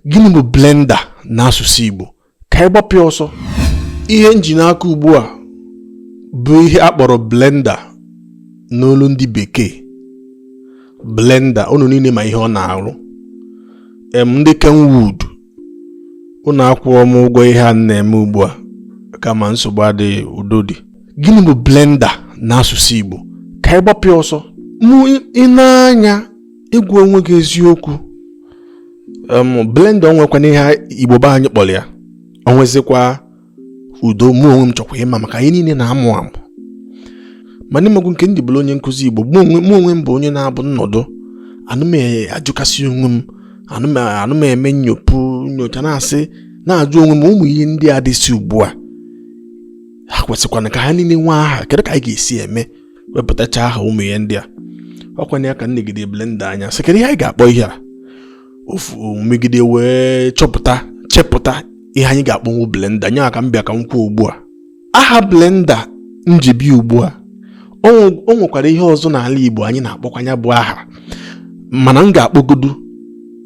gịnị bụ blender n'asụsụ Igbo ka anyị gbapụ ya ọsọ ihe m ji n'aka ugbu a bụ ihe a kpọrọ blender n'olu ndị bekee blender unu niile ma ihe ọ na-arụ em ndị kenwood unu akwụọ m ụgwọ ihe a m na-eme ugbu a kama nsogbu adịghị udo dị gịnị bụ blender n'asụsụ Igbo ka anyị gbapụ ya ọsọ mụ ị na-anya ịgwa onwe gị eziokwu blender o nwekwana ihe igbo be anyị kpọrọ ya o nwezikwa udo mụ onwe m chọkwa ịma maka anyị niile na-amụ amụ ma n'ịmagụ nke ndị bụrụ onye nkụzi igbo mụ onwe m bụ onye na-abụ m nọdụ ana m ajụkasị onwe m ana m eme nyopu nyocha na-asị na-ajụ onwe m ụmụ ihe ndị a dịsị ugbu a ha kwesịkwana ka ha niile nwee aha kedu ka anyị ga-esi eme wepụtacha aha ụmụ ihe ndị a ọ kwanụ ya ka m negide blender anya sị kedu ihe anyị ga-akpọ ihe a ofu megide wee chọpụta chepụta ihe anyị ga-akpọnwu blender nya ka m bịa ka m kwuo ugbu a aha blender m ji bịa ugbu a o nwekwara ihe ọzọ n'ala Igbo anyị na-akpọkwa nya bụ aha mana m ga-akpọgodu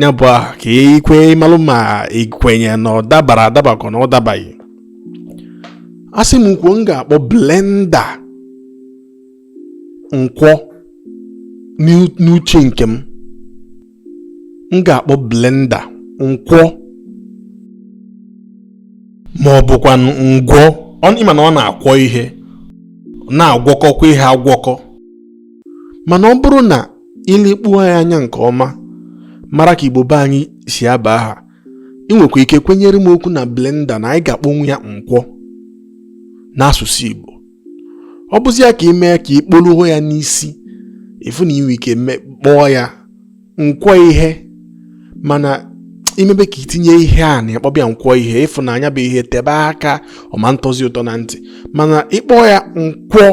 ya bụ aha ka i kwe malụ ma i kwenye na ọ dabara adaba ka ọ na ọ dabaghị asị m kwuo m ga-akpọ blender nkwọ n'uche nke m m ga-akpọ blender nkwọ ma ọ bụkwa ngwọ ị ma na ọ na-akwọ ihe na-agwọkọkwa ihe agwọkọ mana ọ bụrụ na i lekpuo ya anya nke ọma mara ka igbo be anyị si aba aha ị nwekwa ike kwenyere m okwu na blender na anyị ga-akpọnwu ya nkwọ n'asụsụ Igbo ọ bụzi ya ka ị mee ka ị kpọluo ya n'isi ị fụ na i nwe ike kpọọ ya nkwọ ihe mana i mebe ka i tinye ihe a na ị kpọbe ya nkwọ ihe ị fụ na nya bụ ihe tebe aka ọ ma ntọzi ụtọ na ntị mana ị kpọọ ya nkwọ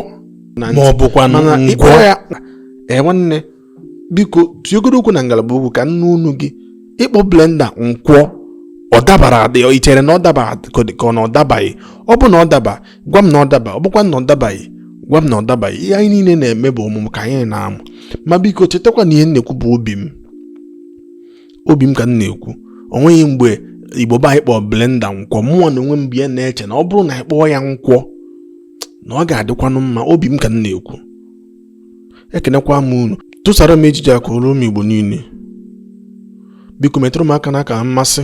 na ntị ma ọ bụkwa nkwọ ya ee nwanne biko tụọgodu okwu na ngalaba okwu ka m nụ onu gị ịkpọ blender nkwọ ọ dabara adị i chere na ọ daba ka ọ na ọ dabaghị ọ bụ na ọ daba gwa m na ọ daba ọ bụkwa na ọ dabaghị gwa m na ọ dabaghị ihe anyị niile na-eme bụ ọmụmụ ka anyị na-amụ ma biko chetakwa na ihe m na-ekwu bụ obi m obi m ka m na-ekwu o nweghị mgbe igbo be anyị kpọọ blender nkwọ mụ na onwe m bịa na-eche na ọ bụrụ na anyị kpọọ ya nkwọ na ọ ga-adịkwanụ mma obi m ka m na-ekwu ekenekwa m unu tụsara m ejije a ka o ruo ụmụ Igbo niile biko metụrụ m aka n'akara mmasị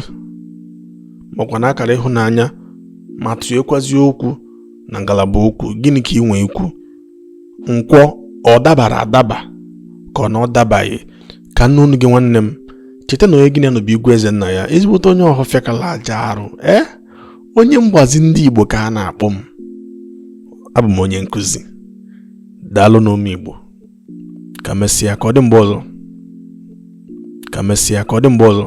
makwa na akara ịhụnanya ma tụnyekwazi okwu na ngalaba okwu gịnị ka ị nwee ikwu nkọwa ọ dabara adaba ka ọ na ọ dabaghị ka m nụ ọnụ gị nwanne m cheta na onye gị na-anọbụ igwe eze nna ya ezigbote onye Ọhafịa kala aja arụ ee eh? onye mgbazi ndị Igbo ka a na-akpọ m abụ m onye nkụzi daalụnụ ụmụ Igbo ka emesịa ka ọ dị mgbe ọzọ ka emesịa ka ọ dị mgbe ọzọ